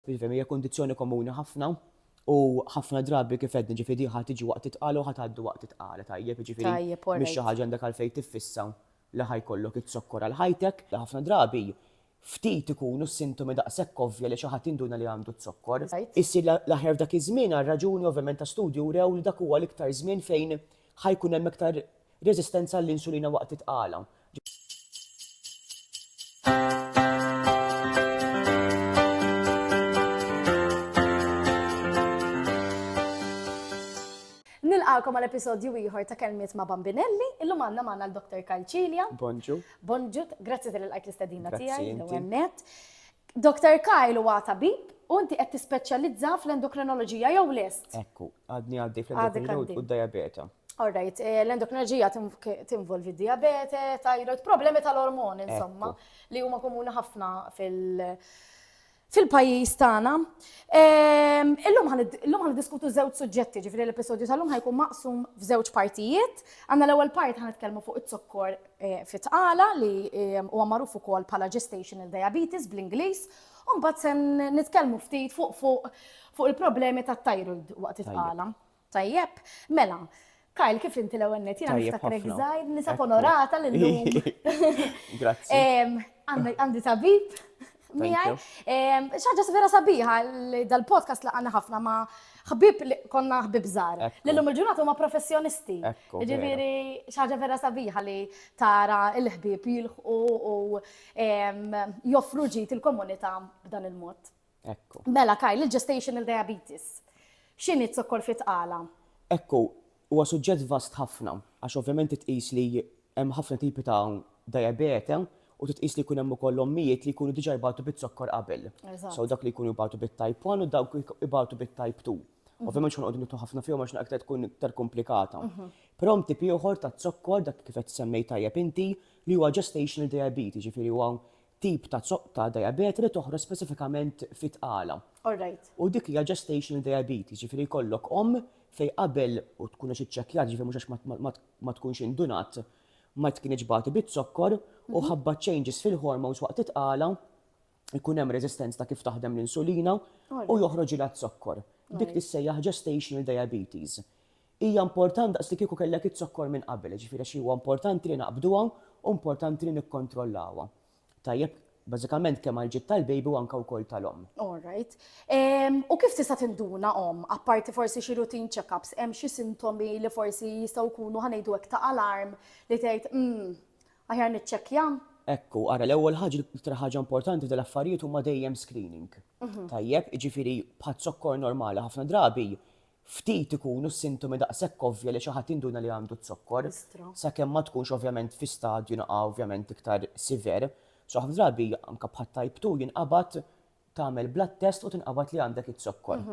Jiġifieri hija kundizzjoni komuni ħafna u ħafna drabi kif għedna ġifieri din ħa tiġi waqt it-tqala u ħa tgħaddi waqt it-tqala, tajjeb? Jiġifieri mhix xi ħaġa għandek għalfejn tiffissa li ħa jkollok iz-zokkor għal ħajtek. Ħafna drabi ftit ikunu s-sintomi daqshekk ovvja li xi ħadd jinduna li għandu z-zokkor. Issir l-aħjar f'dak iż-żmien għal raġuni ovvjament ta' studji wrew li dak huwa l-iktar żmien fejn Ħa jkun hemm iktar reżistenza għall-insulina waqt it-tqala. Nilqakom għal episodju ieħor ta' Kelmiet ma' Bambinelli. Illum għandna magħna l-Dr. Karl Cilia. Bonġu. Bonġu, grazzi tal-ilqajt l-istedina tiegħi, l-ewwel Doctor Kyle huwa tabib u inti qed tispeċjalizza fl-endokrinoloġija jew lest? Ekku, għadni għaddej fl-endokrinoloġija u d-dijabete. All right, l-endokrinoloġija tinvolvi d-dijabete, thyroid, problemi tal-ormoni insomma li huma komuni ħafna fil- fil-pajjiż tagħna. Ehm, illum ħan diskutu żewġ suġġetti, ġifieri l-episodju tal-lum ħajkun maqsum f'żewġ partijiet. Għandna l-ewwel part ħan nitkellmu fuq it-zokkor fit-tqala li huwa magħruf ukoll bħala gestational diabetes bl-Ingliż, u mbagħad se nitkellmu ftit fuq fuq fuq il-problemi tat-thyroid waqt it-tqala. Tajjeb? Mela, Kyle, kif inti l-ewwel net? Jiena niftakrek żgħir, nisab onorata lil. Grazzi. Għandi tabib. miegħi. Xaġa vera sabiħa li dal-podcast li għanna ħafna ma ħbib li konna ħbib żgħar. Lillum il-ġurnata huma professjonisti. Ġifieri xaġa vera sabiħa li tara l-ħbib jilħqu u joffru ġid il-komunità b'dan il-mod. Mela kaj, l-gestational diabetes. X'inhi t-zokkor fit-tqala? Ekku, Huwa suġġett vast ħafna għax ovvjament titqis li hemm ħafna tipi ta' dajabete u titqis li jkun hemm ukoll ommijiet li jkunu diġà jbatu biz-zokkor qabel. So dawk li jkunu jbatu bit-type one u dawk ibatu bit-type two. Ovvjament mhux ħanqogħdu nidħlu ħafna fihom għax aktar tkun iktar komplikata. Però hemm tip ieħor ta' zokkor dak kif qed semmej tajjeb inti li huwa gestational diabetes, jiġifieri huwa tip ta' zoqq ta' diabete li toħroġ speċifikament fit-tqala. U dik hija gestational diabetes, jiġifieri jkollok omm fejn qabel u tkun għax iċċekkjat, jiġifieri mhux għax ma tkunx indunat, ma tkinitx bagħti biz-zokkor u ħabba changes fil-hormones waqt it-tqala, ikun hemm reżistenza ta' kif taħdem l-insulina u joħroġilha z-zokkor. Dik tissejjaħ gestational diabetes. Hija important daqs li kieku kellek izzokkor minn qabel, jiġifieri għax huwa importanti li naqbduha u importanti li nikkontrollawha. Tajjeb, bażikament kemm għall-ġid tal-baby u anke wkoll tal-omm. All right. Ehm, u kif tista' tinduna omm, apparti forsi xi routine check-ups, hemm xi sintomi li forsi jistgħu jkunu ħa ngħidu hekk ta' alarm li tgħid, mm, aħjar niċċekkja? Ekku, ara l-ewwel ħaġa l-iktar ħaġa importanti f'dan l-affarijiet huma dejjem screening. Mhm. Tajjeb, jiġifieri bħaz-zokkor normali ħafna drabi Ftit ikunu s-sintomi daqshekk ovvja li xi ħadd jinduna li għandu z-zokkor, sakemm ma tkunx ovvjament fi stadju ovvjament iktar siver. So ħafna drabi anke bħat-type two jinqabad tagħmel blood test u tinqabad li għandek iz-zokkor.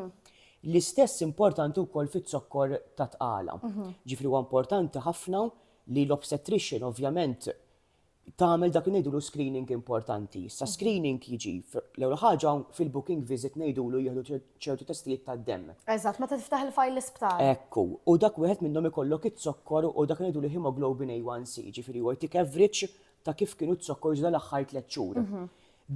L-istess importanti wkoll fiz-zokkor tat-tqala. Ġifieri huwa importanti ħafna li l-obstetrician ovvjament tagħmel dak li ngħidulu screening importanti. Issa mhm. screening jiġi l-ewwel ħaġa fil-booking visit ngħidulu jieħdu ċertu testijiet tad-demm. Eżatt, meta tiftaħ il-fajl l-isptar. Ekku, u dak wieħed minnhom ikollok it-zokkor u dak ngħidulu hemoglobin A1C, ġifieri huwa jtik average ta' kif kienu t-zokkor ġda l-aħħar tliet xhur. Mhm.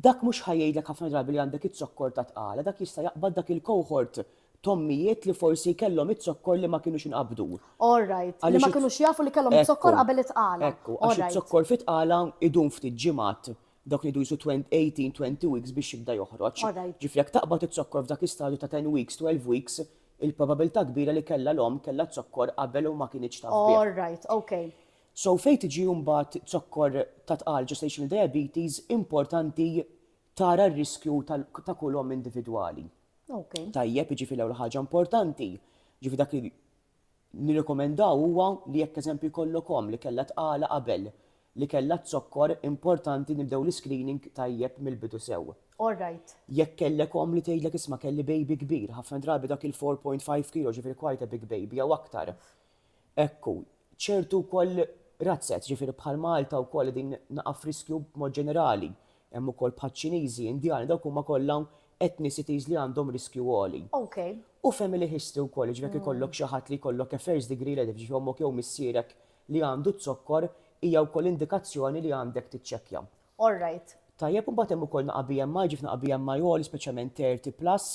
Dak mhux ħajjgħidlek ħafna drabi li għandek it-zokkor ta' tqala, dak jista' jaqbad dak il-cohort t'ommijiet li forsi kellhom iz-zokkor li ma kinux inqabdu. All right. Li ma kinux jafu li kellhom iz-zokkor qabel it-tqala. Ekku, għax iz-zokkor fit-tqala idum ftit ġimgħat, dawk li jdu jqisu 18, 20 weeks biex jibda joħroġ. All right. Ġifieri jekk taqbad iz-zokkor f'dak l-istadju ta' 10 weeks, 12 weeks, il-probabilità kbira li kellha l-omm kellha z-zokkor qabel u ma kinitx taf bih. All right, ok. So fejn tiġi mbagħad zokkor ta' tqal, gestational diabetes, importanti tara r-riskju ta' kull omm individwali. Tajjeb, jiġifieri l-ewwel ħaġa importanti, jiġifieri dak li nirrekomendaw huwa li jekk eżempju jkollok omm li kellha tqala qabel, li kellha z-zokkor, importanti nibdew l-iscreening tajjeb mill-bidu sew. All right. Jekk kellek omm li tgħidlek isma' kelli baby kbir, ħafna drabi dak il-4.5 kilo, jiġifieri quite a big baby, jew aktar, Hekk hu. Ċertu wkoll razzet, ġifieri bħal Malta wkoll qegħdin naqgħa f'riskju b'mod ġenerali. Hemm ukoll bħaċ-Ċiniżi, Indjani, dawk huma kollha ethnicities li għandhom riskju għoli. Okay. U family history wkoll, jiġifieri jekk ikollok xi ħadd li jkollok a first degree relative, jiġifieri ommok jew missierek li għandu z-zokkor, hija wkoll indikazzjoni li għandek tiċċekkja. All right. Tajjeb, u mbagħad hemm ukoll naqgħa BMI, ġifieri naqgħa BMI għoli, speċjalment 30 plus,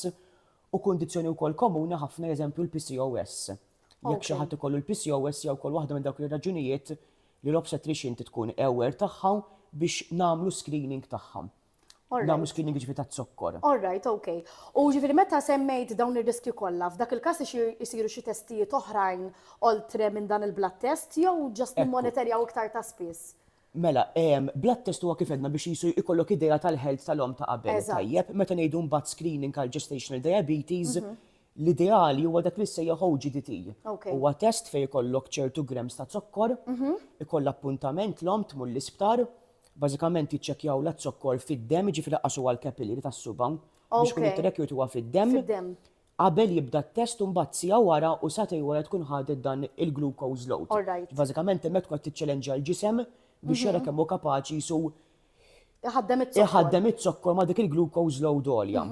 u kundizzjoni wkoll komuni ħafna eżempju l-PCOS. Jekk xi ħadd ikollu l-PCOS hija wkoll waħda minn dawk ir-raġunijiet li l-obstetrician trid tkun aware tagħha biex nagħmlu screening tagħha. Nagħmlu screening jiġifieri taz-zokkor. All right, ok. U jiġifieri meta semmejt dawn ir-riskji kollha, f'dak il-każ isiru xi testijiet oħrajn oltre minn dan il-blood test jew just nimmonitorjaw iktar ta' spiss? Mela, blood test huwa kif għedna biex qisu jkollok idea tal-health tal-omm ta' qabel. Eżatt. Tajjeb, meta ngħidu mbagħad screening għal gestational diabetes, l-ideali huwa dak li jissejjaħ OGDT. Ok. Huwa test fejn ikollok ċertu grams ta' zokkor, ikollha appuntament l-omm tmur l-isptar, bażikament jiċċekkjawlha z-zokkor fid-demm, jiġifieri qasu għall-capillary tas-suba. Ok. Biex ikun it-track jut huwa fid-demm. Fid-demm. qabel jibda t-test u mbagħad siegħa wara u sagħtejn wara tkun ħadet dan il-glucose load. All right. Bażikament hemmhekk tkun qed tiċċelenġja l-ġisem biex jara kemm hu kapaċi su Iħaddem it-zokkor. iħaddem iz-zokkor ma' dik il-glucose load għolja.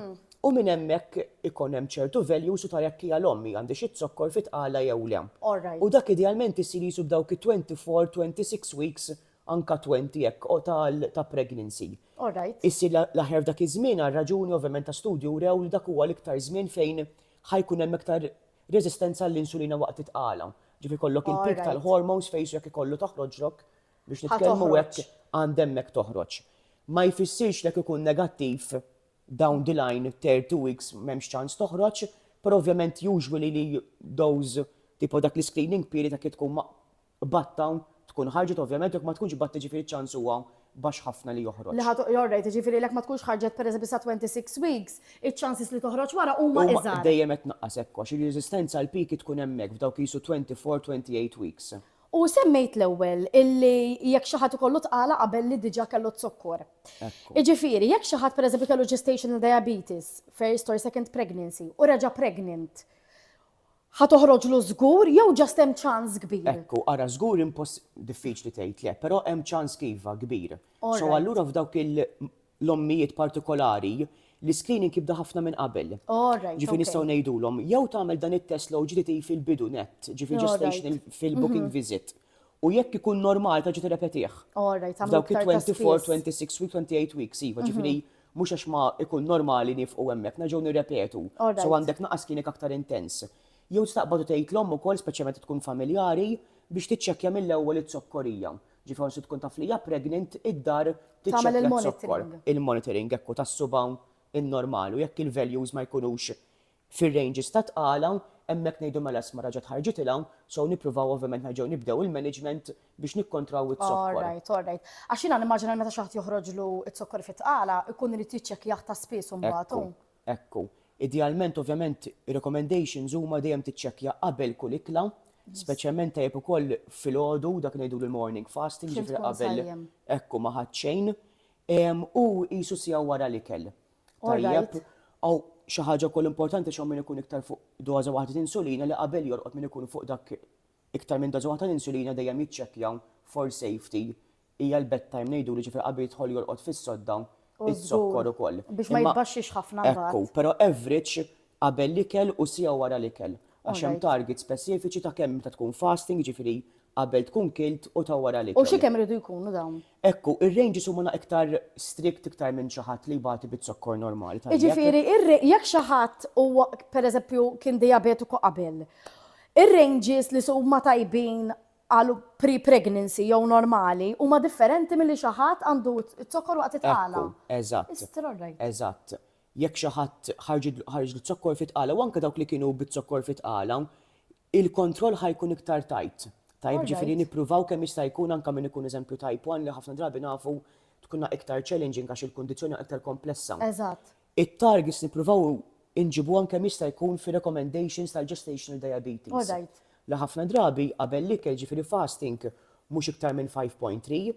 U minn hemmhekk ikun hemm ċertu values u tara jekk hija l-omm hija għandhiex iz-zokkor fi tqala jew le. All right. U dak idealment isir qisu b'dawk it-24, 26 weeks anka 20 hekk o tal ta' pregnancy. All right. Issir l-aħjar f'dak iż-żmien għal raġuni ovvjament ta' studji wrew li dak huwa l-iktar żmien fejn ħa jkun hemm iktar reżistenza għall-insulina waqt it-tqala. Ġifieri jkollok il-peak tal-hormones fejsu jekk ikollu toħroġlok biex nitkellmu hekk għand hemmhekk toħroġ. Ma jfissirx li jekk ikun negattiv down the line 30 weeks m'hemmx ċans toħroġ, però ovvjament usually li those tipo dak l-iscreening period jekk tkun ma Batt hawn, tkun ħarġet ovvjament jekk ma tkunx batt jiġifieri ċ-ċans huwa baxx ħafna li joħroġ. Li ħa toqgħod għorrejt, jiġifieri jekk ma tkunx ħarġet pereżempju sa 26 weeks, iċ-chances li toħroġ wara huma iżgħar. Huma dejjem qed tnaqqas hekk għax ir-reżistenza għall-piki tkun hemmhekk f'dawk qisu 24, 28 weeks. U semmejt l-ewwel illi jekk xi ħadd ikollu tqala qabel li diġà kellu z-zokkor. Ekku. Jiġifieri jekk xi ħadd pereżempju kellu gestational diabetes, first or second pregnancy, u reġa' pregnant, Ħa toħroġlu żgur jew just hemm ċans kbir? Hekk hu, ara żgur imposs diffiċli tgħid le, però hemm ċans iva kbir. So allura f'dawk l-ommijiet partikolari l-iscreening jibda ħafna minn qabel. Ġifieri nistgħu ngħidulhom jew tagħmel dan it-test l-OGTT fil-bidu nett, ġifieri gestation fil-booking visit. U jekk ikun normali terġa' tirrepetih. F'dawk it-24, 26 weeks, 28 weeks, iva, ġifieri Mhux għax ma ikun normali nifqu hemmhekk, nerġgħu nirrepetu. So għandek naqas kienik aktar intens. Jew tistaqbad u tgħid l-omm ukoll, speċjalment tkun familjari, biex tiċċekkja mill-ewwel iz-zokkorija. Ġifi once tkun taf li hija pregnant, id-dar tiċċekkja z-zokkor. Il-monitoring, ekku, tas-subgħa in-normal u jekk il-values ma jkunux fir-ranges ta' tqal hawn, hemmhekk ngħidu mela isma' raġgħet ħarġet 'il hawn, so nippruvaw ovvjament nerġgħu nibdew il-management biex nikkontraw iz-zokkor. All right, all right. Għax jiena nimmaġina li meta xi ħadd joħroġlu z-zokkor fit-tqala, ikun irid jiċċekkjah ta' spiss imbagħad hu. Ekku, ekku. Idealment ovvjament ir-recommendations huma dejjem tiċċekkja qabel kull ikla, speċjalment tajjeb ukoll filgħodu, dak li ngħidulu l-morning fasting, jiġifieri qabel, ekku, ma ħadt xejn, u qisu siegħa wara l-ikel. Tajjeb, hawn xi ħaġa wkoll importanti x'hawn min ikun iktar fuq doża waħda ta' insulina li qabel jorqod min ikun fuq dak iktar minn doża waħda ta' insulina dejjem jiċċekkja for safety hija l-bedtime ngħidulu ġifieri qabel jidħol jorqod fis-sodda, iż-zokkor ukoll. Biex ma jitbaxxix ħafna mbagħad. Ekku, però average qabel l-ikel u siegħa wara l-ikel għax hemm targets speċifiċi ta' kemm meta tkun fasting, jiġifieri qabel tkun kilt u ta' wara l-ikel. U xi kemm iridu jkunu dawn? Hekk hu, ir-ranges huma na iktar strict iktar minn xi ħadd li jbati biz-zokkor normali tal-ikel. Jiġifieri ir-ra, jekk xi ħadd huwa per eżempju kien dijabetiku qabel, ir-ranges li huma tajbin għal pre-pregnancy jew normali huma differenti milli xi ħadd għandu z-zokkor waqt it-tqala. Ekku, eżatt. Is-strorrajt. Eżatt. jekk xi ħadd ħarġidlu, ħarġlu zokkor fi tqala u anke dawk li kienu biz-zokkor fi tqala, il-kontroll ħa jkun iktar tight. Tajjeb, jiġifieri nippruvaw kemm jista' jkun anke min ikun eżempju type one li ħafna drabi nafu tkunha iktar challenging għax il-kundizzjoni iktar komplessa. Eżatt. It-targets nippruvaw inġibuhom kemm jista' jkun fir-recommendations tal-gestational diabetes. Alright. Li ħafna drabi qabel l-ikel, jiġifieri fasting, mhux iktar minn 5.3.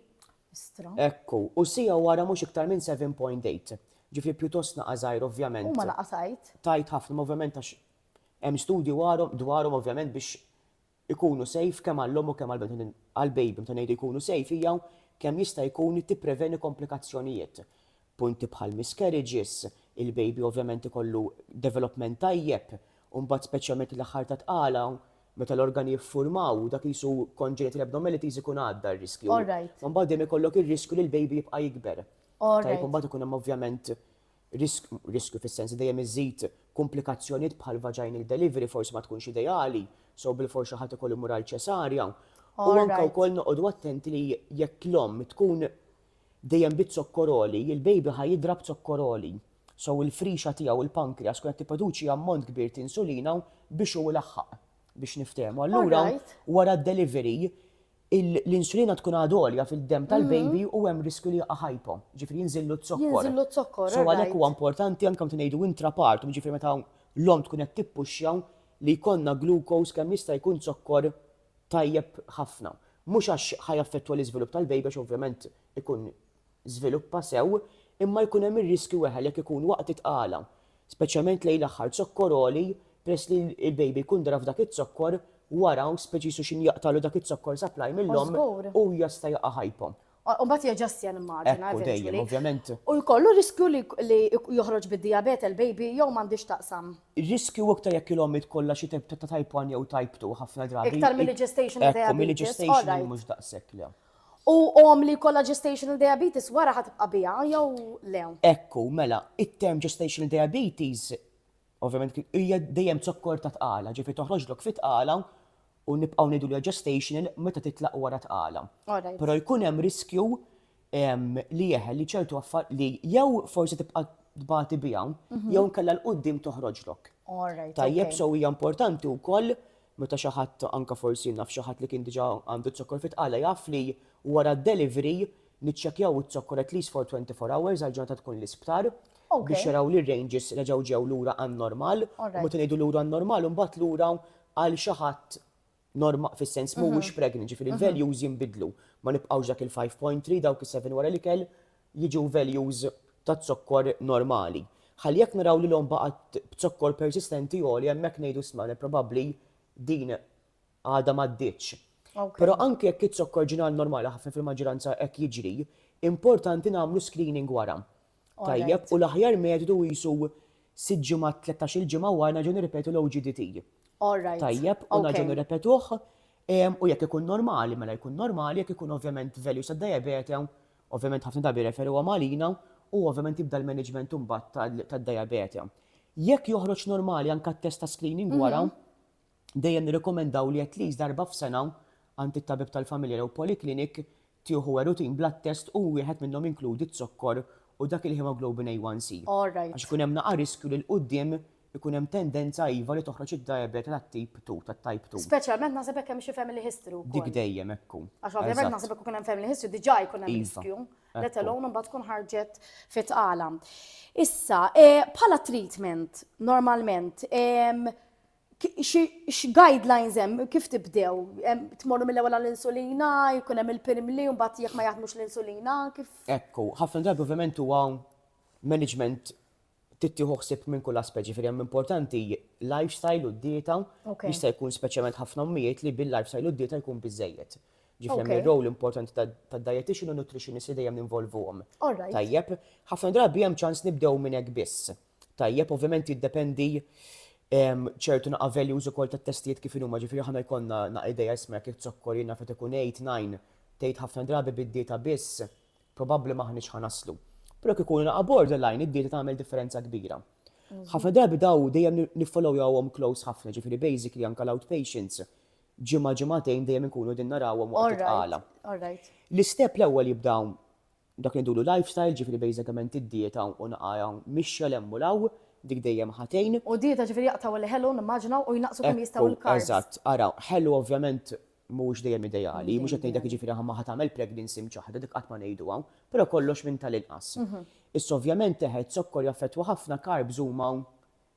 Istra. Hekk hu. U siegħa wara mhux iktar minn 7.8. Ġifieri pjuttost naqa' żgħir ovvjament. Huma naqa' tajt. Tajt ħafna, ma ovvjament għax hemm studji warhom dwarhom ovvjament biex ikunu safe kemm għall-omm u kemm għall-bniedem għall-baby meta ngħidu jkunu safe hija kemm jista' jkun tippreveni komplikazzjonijiet. punti bħal miscarriages, il-baby ovvjament ikollu development tajjeb, u mbagħad speċjalment l-aħħar ta' tqala meta l-organi jiffurmaw, dak qisu congenital abnormalities ikun għadda r-riskju. All right. Mbagħad dejjem ikollok ir-riskju li l-baby jibqa' jikber. All right. Tajjeb, u mbagħad ikun hemm ovvjament risk, riskju fis-sens li dejjem iżżid kumplikazzjonijiet bħal vaginal delivery forsi ma tkunx ideali, so bilfors xi ħadd ikollu jmur għal ċesarja. All right. U anke wkoll noqogħdu attenti li jekk l-omm tkun dejjem bi zokkor għoli, il-baby ħa jidra b'zokkor għoli. So il-frixa tiegħu, il-pancreas, tkun qed tipproduċi ammont kbir t'insulina u biex hu ilaħħaq. Biex niftehmu. Allura wara d-delivery l-insulina tkun għad għolja fid-demm tal-baby u hemm riskju li jaqa' hypo. Ġifieri jinżillu z-zokkor. Jinżillu z-zokkor. So għalhekk huwa importanti anke meta ngħidu intrapartum, ġifieri meta l-omm tkun qed tippuxxa li jkollna glucose kemm jista' jkun zokkor tajjeb ħafna. Mhux għax ħa jaffettwa l-iżvilupp tal-baby għax ovvjament ikun żviluppa sew, imma jkun hemm ir-riskju weħel jekk ikun waqt it-tqala, speċjalment lejn l-aħħar, zokkor għoli peress li l-baby jkun dara f'dak iz-zokkor wara u speċi jisu x'inhi jaqtagħlu dak iz-zokkor supply mill-omm u jista' jaqa' hypo. Umbat jaġastja nimmaġina. Ekku, dejjem, ovvjament. U jkollu riskju li joħroġ bid-diabete l-baby jew m'għandix taqsam? Riskju iktar jekk il-ommi tkollha xi tip ta' type 1 jew type 2 ħafna drabi. Iktar mill gestational diabetes. Ekku, mill gestational mhux daqshekk le. U om li kollha gestational diabetes wara ħad tibqa' biha jew le? Ekku, mela, it-term gestational diabetes ovvjament hija dejjem zokkor ta' tqala, ġifi toħroġlok fit tqala u nibqgħu ngħidulha gestational meta titlaq wara tqala. Però jkun hemm riskju li eħe li ċertu affar li jew forsi tibqa' tbati biha mhm. jew nkella l qudiem toħroġlok. Tajjeb so hija importanti wkoll meta xi ħadd anke forsi naf xi ħadd li kien diġà għandu t-zokkor fit jaf li wara d-delivery Niċċekkjaw iz-zokkor at least for 24 hours għal ġurnata tkun l-isptar biex jaraw li r-ranges reġgħu ġew lura għan-normal u meta ngħidu lura għan-normal imbagħad lura għal xi ħadd norma fis-sens mhuwiex pregnant ġifieri l-values jinbidlu ma nibqgħux dak il-five point three dawk is-seven wara l-ikel jiġu values taz-zokkor normali. Ħalli jekk naraw li l-omm baqgħet b'zokkor persistenti għoli hemmhekk ngħidu isma' probabbli din għadha m'għaddietx. Però anke jekk izzokk orġinali normali ħafna fil-maġġoranza hekk jiġri, importanti nagħmlu screening wara. Tajjeb, u l-aħjar metodu qisu sitt ġimgħat, tlettax-il ġimgħa wara nerġgħu nirripetu l-OGDT. Tajjeb, u nerġgħu nirripetuh, u jekk ikun normali, mela jkun normali, jekk ikun ovvjament values tad-dajabete, ovvjament ħafna drabi jirreferuhom għalina, u ovvjament jibda l-maniġment imbagħad tad-dajabete. Jekk joħroġ normali anke t-test ta' screening wara, dejjem nirrikkomendaw li at least darba f'sena għand it-tabib tal-familja jew poliklinik tieħu Wherutin blood test u wieħed minnhom jinkludi z-zokkor u dak il-hemoglobin A1C għax ikun hemm naqa' riskju li 'l quddiem ikun hemm tendenza iva li toħroġ id-diabete tat-tip two, tat-type two. Speċjalment naħseb jekk hemm xi family history wkoll. Dik dejjem, hekk hu. Għax ovvjament naħseb jekk ikun hemm family history diġà jkun hemm riskju, let alone imbagħad tkun ħarġet fi tqala. Issa, bħala treatment normalment, X'guidelines hemm kif tibdew? Tmorru mill-ewwel għall-insulina, jkun hemm il-pirimli u mbagħad jekk ma jaħdmux l-insulina, kif? Ekku, ħafna drabi ovvjament huwa management trid tieħu ħsieb minn kull aspett, ġifieri hemm importanti lifestyle u d-dieta, jista' jkun speċjalment ħafna ommijiet li bil-lifestyle u d-dieta jkun biżżejjed. Ġifieri hemm ir-role importanti tad-dietician u n-nutritionist li dejjem ninvolvuhom. Tajjeb, ħafna drabi hemm ċans nibdew minn hekk biss. Tajjeb, ovvjament jiddependi ehm, ċertu naqa' values ukoll tat-testijiet kif huma, ġifieri ħana jkollna naqa' idea jisma' jekk zokkor jiena fejn ikun 8, 9, tgħid ħafna drabi bid-dieta biss, probabbli m'aħniex ħanaslu. Però kif ikun naqa' borderline id-dieta tagħmel differenza kbira. Mhm. Ħafna drabi daw dejjem niffollow jawhom close ħafna, ġifieri basically anke l-outpatients ġimgħa ġimgħatejn dejjem inkunu din narawhom waqt it-qala. L-istep l-ewwel jibdaw Dak li ngħidulu lifestyle, ġifieri basicament id-dieta u naqgħa mixja 'l hemm u 'l hawn, dik dejjem ħa tgħin. U d-dieta ġifieri jaqtgħu l-ħelu nimmaġina u jnaqqsu kemm jistgħu l-carbs. Ekku, eżatt. Ara, ħelu ovvjament mhuwiex dejjem ideali, mhux qed ngħidlek jiġifieri ħa ma ħa tagħmel pregnancy mċaħħda, dik qatt ma ngħiduha, però kollox minn tal-inqas. Issa ovvjament eħe, zokkor jaffettwa ħafna, carbs huma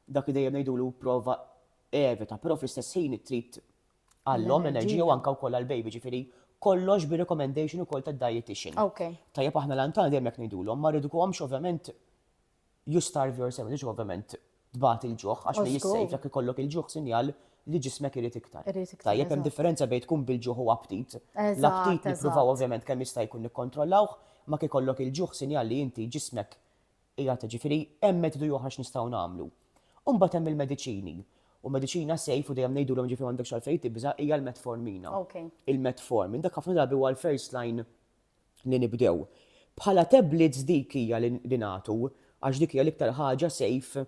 dak li dejjem ngħidulu prova evita, però fl-istess ħin trid għall-om, l-enerġija u anka wkoll għall-baby, ġifieri kollox bi recommendation ukoll tad-dietitian. Okay. Tajjeb aħna l-antana dejjem jekk ngħidulhom, ma rridukomx ovvjament you starve yourself, ġiġ ovvjament tbat il-ġuħ, għax li jissejf jekk ikollok il-ġuħ sinjal li ġismek irid iktar. Tajjeb hemm differenza bejn tkun bil-ġuħ u aptit. L-aptit nippruvaw ovvjament kemm jista' jkun nikkontrollawh, ma kikollok il-ġuħ sinjal li inti ġismek Qiegħed, jiġifieri hemm metodu ieħor x'nistgħu nagħmlu. U mbagħad hemm il-mediċini. U mediċina safe u dejjem ngħidulhom jiġifieri m'għandekx għalfejn tibża' hija l-metformina. Il-metformin dak ħafna drabi huwa l-first line li nibdew. Bħala tablets dik hija li nagħtu għax dik hija l-iktar ħaġa safe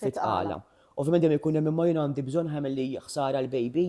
fit-tqala. Ovvjament dejjem ikun hemm imma jien għandi bżonn ħajmen li ħsara l-baby.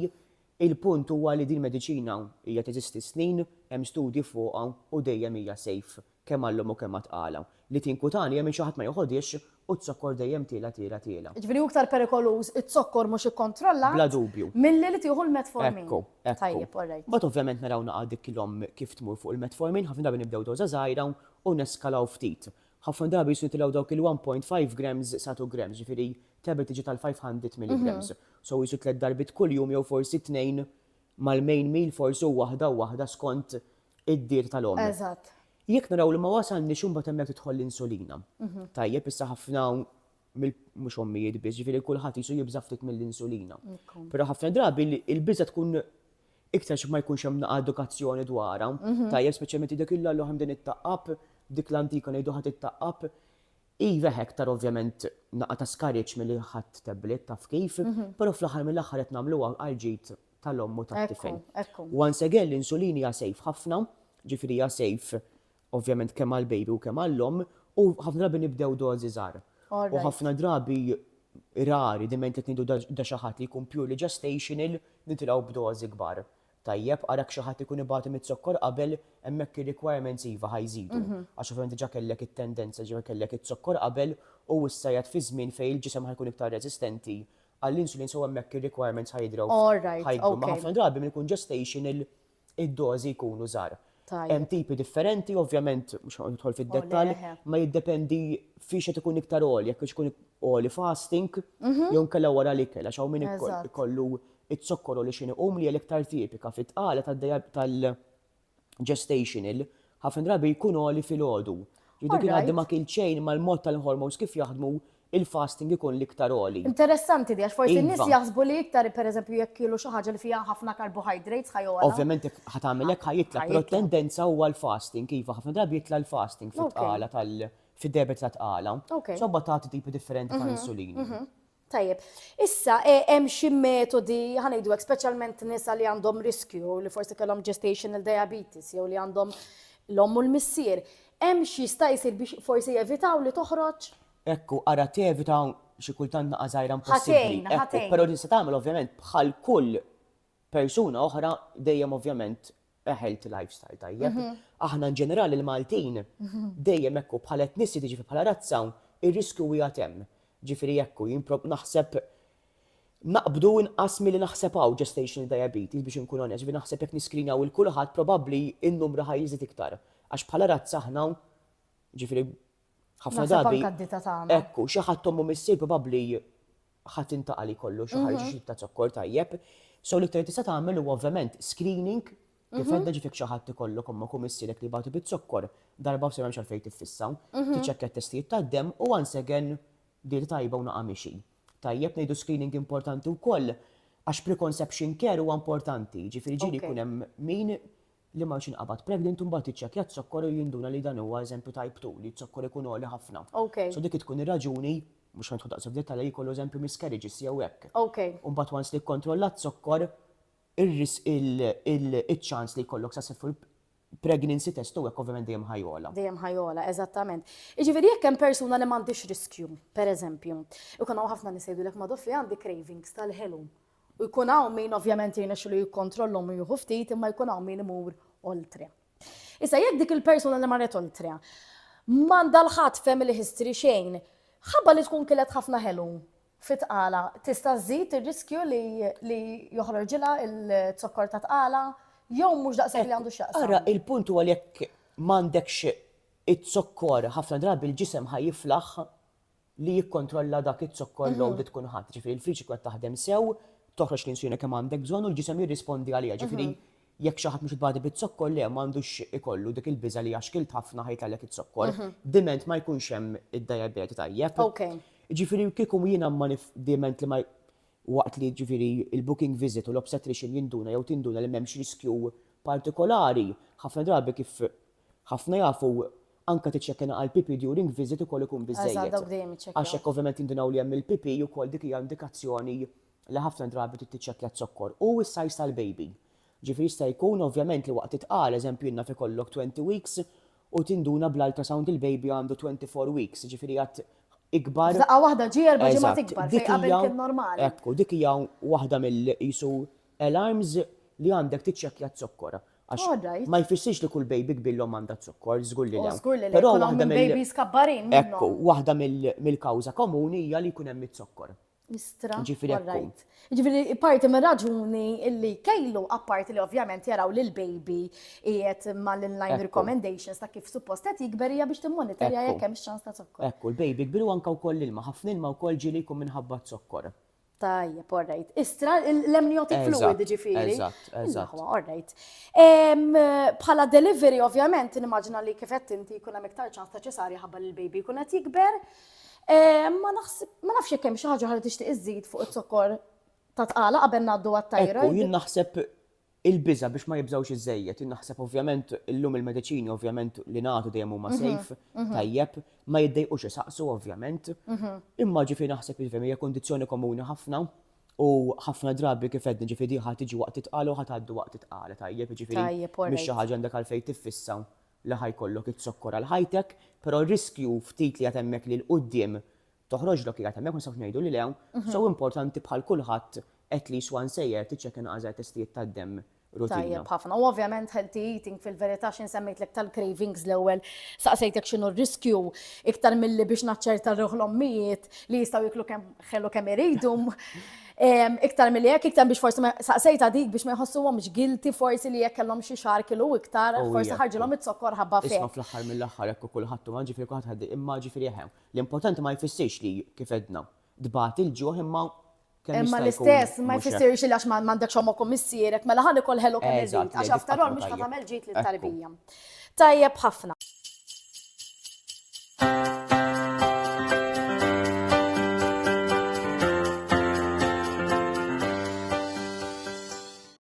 Il-punt huwa li din mediċina hija teżisti s-snin, hemm studji fuqha u dejjem hija safe Kemm għal-lum u kemm għat-tqala. Li tinkutani jemmen xi ħadd ma joħodhiex u t-zokkor dejjem tiela' tiela' tiela'. Jiġifieri hu iktar perikoluż it-zokkor mhux ikkontrollat. Bla dubju. Milli li tieħu l-metformin. Ekku, ekku. Tajjeb, all right. Mbagħad ovvjament naraw naqgħa dik l-omm kif tmur fuq il-metformin, ħafna drabi nibdew doża żgħira u neskalaw ftit. Ħafna drabi jridu jitilgħu dawk il-one point five grams sa two grams, jiġifieri tablet tiġi tal-five hundred milligrams. So qisu tliet darbiet kuljum jew forsi tnejn mal-main meal forsi u waħda u waħda skont id-dir tal-omm. Eżatt. Jekk naraw li ma wasalniex imbagħad hemmhekk tidħol l-insulina. Tajjeb, issa ħafna mhux ommijiet biss, ġifieri kulħadd jisu jibża' ftit mill-insulina. Però ħafna drabi l-biża' tkun iktar xi ma jkunx hemm naqa' edukazzjoni dwarha. Tajjeb, speċjalment dak illa l-oħ hemm din it-taqqab, dik l-antika ngħidu ħa tittaqqab. Iva hekk tara ovvjament naqa' ta' skariġġ milli ħadt tablet taf kif, però fl-aħħar mill-aħħar qed nagħmluha għall-ġid tal-omm u tat-tifel. Once again l-insulin hija safe ħafna, ġifieri hija safe ovvjament kemm għall-baby u kemm għall-omm u ħafna drabi nibdew dożi żgħar. U ħafna drabi rari diment qed ngħidu da xi ħadd li jkun purely gestational nitilgħu b'dożi kbar. Tajjeb, ara jekk xi ħadd ikun ibati miz-zokkor qabel hemmhekk ir-requirements iva ħa jżidu. Għax ovvjament diġà kellek it-tendenza ġifieri kellek iz-zokkor qabel u issa qiegħed fi żmien fejn il-ġisem ħa jkun iktar reżistenti Għall-insulin sew hemmhekk ir-requirements ħa jidhrew ħa jikbru. Ma ħafna drabi minn ikun gestational id-dożi jkunu żgħar. Hemm tipi differenti, ovvjament mhux ħa nidħol fid-dettall, ma jiddependi fiex qed ikun iktar għoli, jekk hux ikun għoli fasting jew inkella wara l-ikel għax hawn min ikollu ikollu iż-zokkor għoli x'inhu, u li hija l-iktar tipika fit-tqala tal-. gestational, ħafna drabi jkun għoli filgħodu. Ġifieri dak li ngħaddi ma kilt xejn mal-mod tal-hormones kif jaħdmu, il-fasting ikun l-iktar għoli. Interessanti di għax forsi n-nies Iva. jaħsbu li iktar pereżempju jekk kielu xi ħaġa li fiha ħafna carbohydrates ħa jogħla. Ovvjament jekk ħa tagħmel hekk ħa jitla', Ħa però jitla'. t-tendenza huwa l-fasting iva ħafna drabi jitla' l-fasting Ok. fit-tqala tal fid-diabete tat-tqala. Ok. Sobba tagħti tipi differenti ta' insulini. Tajjeb. Issa, e, hemm xi metodi, ħa ngħidu hekk, speċjalment nisa li għandhom riskju li forsi kellhom gestational diabetes jew li għandhom l-omm u l-missier. Hemm xi jista' jsir biex forsi jevitaw li toħroġ? Ekku, ara tevita xi kultant naqa' żgħira impossibbli. Ħatejn, ħatejn. Però din se tagħmel ovvjament bħal kull persuna oħra dejjem ovvjament a healthy lifestyle tajjeb. Aħna in ġenerali l-Maltin dejjem hekk hu bħala etnisiti ġifieri bħala razza ir-riskju qiegħed hemm. Ġifieri hekk hu jien naħseb naqbdu inqas milli naħseb hawn gestational diabetes biex inkun onest ġifieri naħseb jekk niskrinjaw lil kulħadd probabbli n-numru ħa jiżdied iktar għax bħala razza aħna ġifieri ħafna drabi hekk hu xi ħadd omm u missier probabbli ħadd intaqa' li jkollu xi ħaġa xi ta' zokkor tajjeb. So l-iktar li tista' tagħmel huwa ovvjament screening kif għedda ġifik xi ħadd ikollok ommok u missierek li jbatu biz-zokkor darba u se m'hemmx għalfejn tiffissa. Tiċċekkja t-testijiet tad-demm u once again dieta tajba u naqa' mixi. Tajjeb ngħidu screening importanti wkoll għax preconception care huwa importanti, ġifieri ġieli jkun hemm min li ma x'inqabad pregnant u mbagħad jiċċekkja z-zokkor u jinduna li dan huwa eżempju type two li z-zokkor ikun għoli ħafna. Okay. So dik tkun ir-raġuni, mhux ħa nidħlu daqshekk f'dettall li jkollu eżempju miscarriages jew hekk. Okay. U mbagħad once li kkontrollat z-zokkor ir-risk iċ-ċans li jkollok successful pregnancy test u hekk ovvjament dejjem ħa jogħla. Dejjem ħa jogħla, eżattament. Jiġifieri jekk hemm persuna li m'għandhiex riskju, pereżempju, ikun hawn ħafna nies jgħidulek madoffi għandi cravings tal-ħelu. U jkun hawn min ovvjament jirnexxilu jikkontrollhom u jieħu ftit imma jkun hawn min imur oltre. Issa jekk dik il-persuna li marret oltre m'għandha l-ħadd family history xejn, ħabba li tkun kilet ħafna ħelu fi tqala tista' żżid ir-riskju li li joħroġilha il-zokkor ta' tqala jew mhux daqshekk li għandu x'jaqsam. Ara il-punt huwa li jekk m'għandekx iz-zokkor ħafna drabi l-ġisem ħa jiflaħ li jikkontrolla dak iz-zokkor load li tkun ħadt. Ġifieri l-friġ ikun qed taħdem sew, toħroġ l-insulina kemm għandek bżonn u l-ġisem jirrispondi għaliha. Ġifieri jekk xi ħadd mhux badi biz-zokkor, le, m'għandux ikollu dik il-biża' li għaxkilt ħafna ħa jitgħallek iz-zokkor. Diment ma jkunx hemm id-dajabete tajjeb. Ġifieri kieku jiena ma nif, diment li ma waqt li ġifieri l-booking visit u l-obstetrician jinduna jew tinduna li m'hemmx riskju partikolari, ħafna drabi kif Ħafna jafu anke tiċċekkjana għall-PP during visit ukoll ikun biżżejjed. Għax hekk ovvjament jindunawli hemm il-PP ukoll dik hija indikazzjoni li ħafna drabi trid tiċċekkja z-zokkor. U s-size tal-baby. Ġifieri jista' jkun ovvjament li waqt it-tqal, eżempju jien naf ikollok 20 weeks u tinduna bl-ultrasound il-baby għandu 24 weeks, ġifieri għad ikbar. F'daqqa waħda ġie erba' ġimgħat ikbar fejn qabel kien normali. Ekku, dik hija waħda mill-qisu Alarms li għandek tiċċekkja z-zokkor. Għax ma jfissirx li kull baby kbir l-omm għandha z-zokkor, żgur li le. Żgur li le. Però waħda mill babies kabbarin minnhom. Ekku, waħda mill-kawża komuni hija li jkun hemm iz-zokkor. Istra. Ġifieri right. Ġifieri parti minn raġuni li kejlu apparti li ovvjament jaraw li l-baby qiegħed mal-line recommendations ta' kif suppost qed jikber hija biex timmonitorja jekk hemm x'ċans ta' zokkor. Ekku, l-baby kbir u anke wkoll ilma, ħafna ilma wkoll ġieli jkun minħabba zokkor. Tajjeb, all right. Istra, l-amniotic fluid ġifiri. Eżatt, eżatt. All right. Bħala delivery, ovvjament, nimmaġina li kifett inti jkun hemm iktar ċans ta' ċesarja ħabba li l-baby jkun qed jikber. Ma nafx jekk hemm xi ħaġa ħalli tixtieq iżid fuq it-zokkor ta' tqala qabel ngħaddu għat-tajra. Jien naħseb Il-biża' biex ma jibżgħux iżżejjed. Jien naħseb ovvjament illum il-mediċini ovvjament li nagħtu dejjem huma safe, tajjeb, ma jiddejqux isaqsu ovvjament. Imma ġifieri naħseb iva hija kundizzjoni komuni ħafna u ħafna drabi kif għedna ġifieri din ħa tiġi waqt it-tqala u ħa tgħaddi waqt it-tqala tajjeb, jiġifieri mhix xi ħaġa għandek għalfejn tiffissa li ħa jkollok iż-zokkor għal ħajtek, però r-riskju ftit li għad hemmhekk li 'l quddiem Toħroġlok qiegħed hemmhekk ma nistgħux ngħidu li le, so importanti bħal kulħadd at least once a year tiċċekkja inqas żgħar testijiet tad-demm rutina. Tajjeb ħafna. U ovvjament healthy eating fil-verità x'in semmejtlek tal-cravings l-ewwel saqsejtek x'inhu r-riskju iktar milli biex naċċerta ruħ l-ommijiet li jistgħu jieklu kemm ħelu kemm iridu. Iktar milli hekk, iktar biex forsi saqsejta dik biex ma jħossuhomx guilty forsi li jekk kellhom xi xahar kilu iktar, forsi ħarġilhom iz-zokkor ħabba fik. Isma' fl-aħħar mill-aħħar hekk kulħadd imma ġifieri kulħadd ħaddi imma ġifieri eħe. L-impotent ma jfissirx li, kif għedna, tbati il-ġuħ imma kemm jista' jkun. Imma l-istess ma jfissirx li għax m'għandekx ommok u missierek mela ħa nikol ħelu kemm irid għax after all mhux ħa tagħmel ġid lit-tarbija. Tajjeb ħafna.